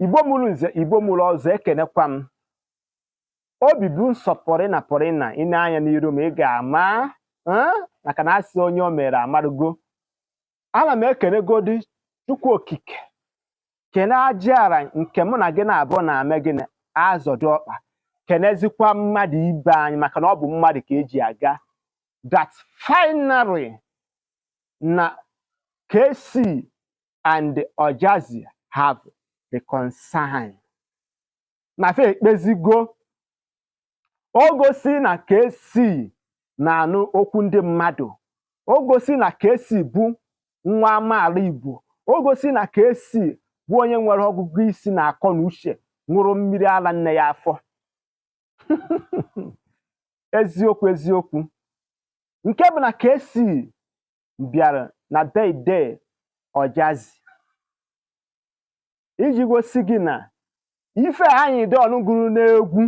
igbo mụrụ nze igbo mụrụ ọzọ ekenekwa m obi bụ nsọ pụrị na pụrị na ị na-anya n'iru ma ị ga-ama eh, maka na asị onye o mere amarugo ana m ekenegodi chukwu okike kene aja ala nke mụ na gị na-abụ na ame gị na-azọdo ọkpa kenezikwa mmadụ ibe anyị maka na ọ bụ mmadụ ka eji aga that finally na Kcee and Ojazzy have reconciled na fa ekpezigo o gosi na Kcee na-anụ okwu ndị mmadụ o gosi na Kcee bụ nwa amaala Igbo o gosi na Kcee bụ onye nwere ọgụgụ isi na akọ na uche ṅụrụ mmiri ala nne ya afọ eziokwu eziokwu nke bụ na Kcee bịara na birthday Ojazzy iji gosi gị na ife Anyidons gụrụ n'egwu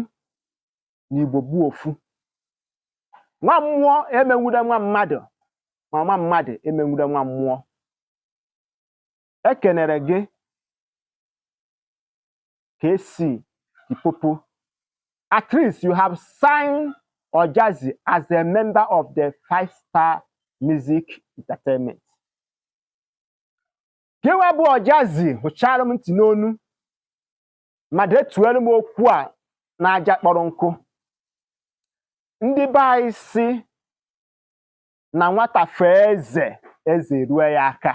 na igbo bụ ofu nwa mmụọ emenwude nwa mmadụ ma nwa mmadụ emenwude nwa mmụọ ekenere gị Kcee Limpopo. At least you have signed Ojazzy as a member of the Five Star Music Entertainment. Gịnwa bụ Ojazzy hụchara m ntị n'onu ma detuelu m okwu a n'aja kpọrọ nkụ. Ndị be anyị si na nwata fee eze eze rue ya aka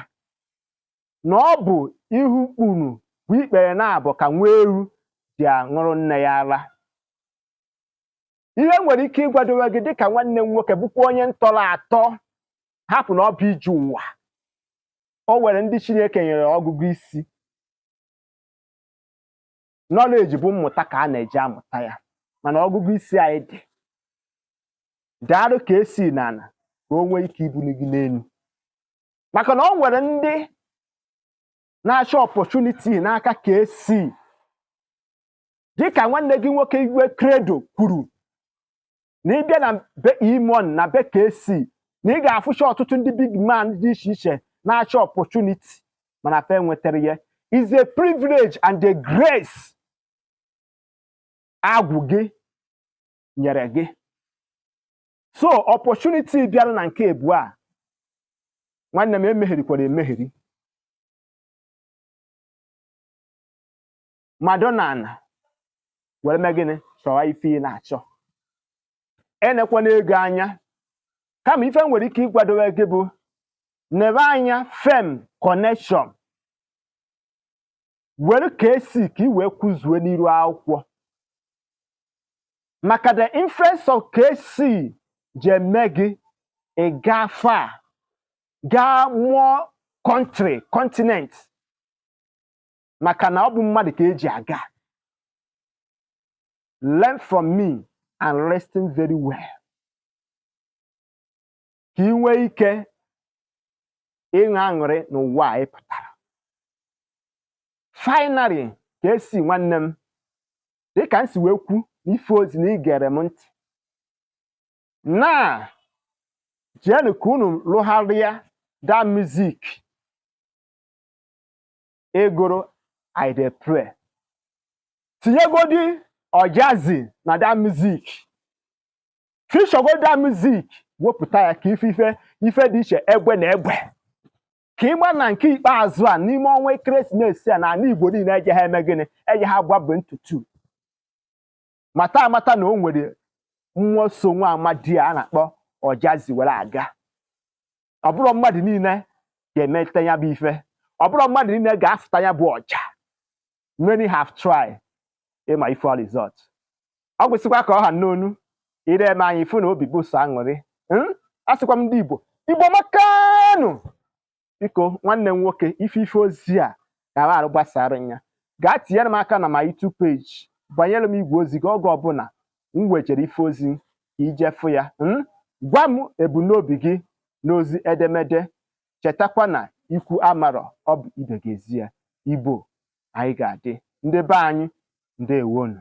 na ọ bụ ihu kpuru bụ ikpere na-abụ ka nwa ewu ji aṅụrụ nne ya ara ihe m nwere ike ịgwadowe gị dịka nwanne m nwoke bụkwa onye m tọrọ atọ hapụ na ọ bụ ije ụwa o nwere ndị Chineke nyere ọgụgụ isi knowledge bụ mmụta ka a na-eji amụta ya mana ọgụgụ isi anyị dị daalụ Kcee n'ala ka o nwee ike ibuli gị n'elu maka na o nwere ndị na-achọ opportunity n'aka Kcee dịka nwanne gị nwoke Igwe Credo kwuru na ịbịa na be E-Money na be Kcee na ị ga-afụcha ọtụtụ ndị big man dị iche iche na-achọ opportunity mana fa enwetarọ ya is a privilege and a grace agwụ gị nyere gị so opportunity bịara na nke ịbụa nwanne m emegherikwala emegheri mmadụ na ana were mee gịnị chọwa ife ị na-achọ enekwana ego anya kama ife m nwere ike ịgwadowe gị bụ nebe anya fame connection were KC ka ị wee kwụzuo n'iru akwụkwọ maka the influence of KC je eme gị ị gaa far gaa more country continent maka na ọ bụ mmadụ ka e ji aga learn from me and listen very well ka ị nwee ike ịṅụ aṅụrị n'ụwa a ị pụtara finally KC nwanne m dịka m si wee kwu n'ife ozi na ị gere m ntị na jeenụ ka unu lụgharịa that music ị gụrụ I dey pray tinyegodi Ojazzy na that music feature godi that music wepụta ya ka ị fụ ife dị iche egbe na egbe ka ịgba na nke ikpeazụ a n'ime ọnwa ekeresimesi a na ala Igbo niile eje ha eme gịnị eje ha gbabụ ntutu mata amata na o nwere mmụọ so nwa amadi a na-akpọ Ojazzy were aga ọ bụrọ mmadụ niile ga-emeta ya bụ ife ọ bụrọ mmadụ niile ga-afụta ya bụ ọja many have tried ị ma ife ọ result ọ gwụsịkwa ka ọ ha n'ọnụ i lee m anya ị fụ na obi bụ sọ aṅụrị hmm? a sịkwa m ndị Igbo Igbo makanụ biko nwanne m nwoke ife ife ozi a ka a ghara gbasara ya gaa tinyere m aka na my YouTube page banyere m igwe ozi gị oge ọbụla m wejere ife ozi ka ị je fụ ya hmm? gwa m ebumnobi gị n'ozi edemede chetakwa na ikwu amarọ ọ bụ ibe ga-ezi ya Igbo anyị ga-adị ndị be anyị ndewonu